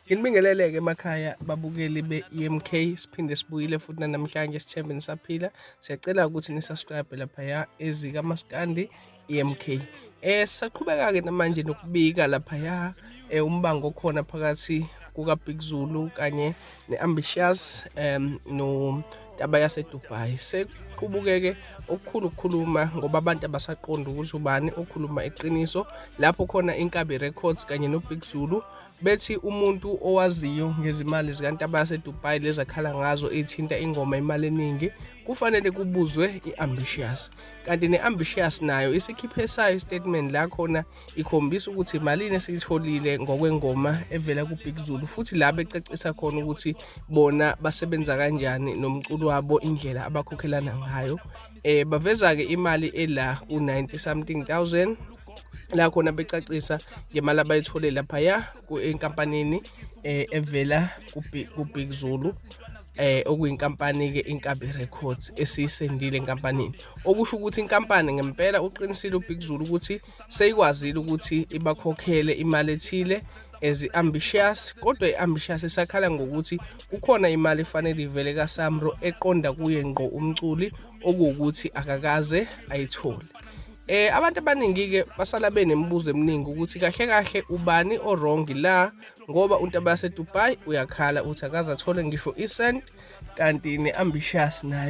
Nginibingelele-ke emakhaya babukeli be-EMK siphinde sibuyile futhi nanamhlanje sithembe nisaphila siyacela ukuthi nisubscribe laphaya ezikamaskandi EMK eh saqhubeka-ke namanje nokubika laphaya eh umbango okhona phakathi kukaBig Zulu kanye ne-ambitious um notaba yasedubai sekuqubukeke okukhulu ukukhuluma ngoba abantu abasaqonda ukuthi ubani okhuluma iqiniso lapho khona inkabi records kanye nobig zulu bethi umuntu owaziyo ngezimali zikantaba yasedubai lezakhala ngazo ithinta ingoma imali eningi kufanele kubuzwe i-ambitious kanti ne-ambitious nayo isikhiphe sayo istatement la khona ikhombisa ukuthi malini esiyitholile ngokwengoma evela kuBig Zulu futhi la becacisa khona ukuthi bona basebenza kanjani nomculo wabo indlela abakhokhelana ngayo eh baveza ke imali ela ku90 something thousand la khona becacisa ngemali abayithole lapha ya enkampanini eh evela kuBig Zulu eh okuyinkampani ke Inkabi Records esiyisendile enkampanini okusho ukuthi inkampani ngempela uqinisile uBig Zulu ukuthi seyikwazile ukuthi ibakhokhele imali ethile as ambitious kodwa iambitious isakhala ngokuthi kukhona imali efanele ivele kaSamro eqonda kuye ngqo umculi okuwukuthi akakaze ayithole eh abantu abaningi ke basala benemibuzo eminingi ukuthi kahle kahle ubani owrong la ngoba untaba yasedubai uyakhala uthi akaze athole ngisho isent kanti ne-ambitious nayo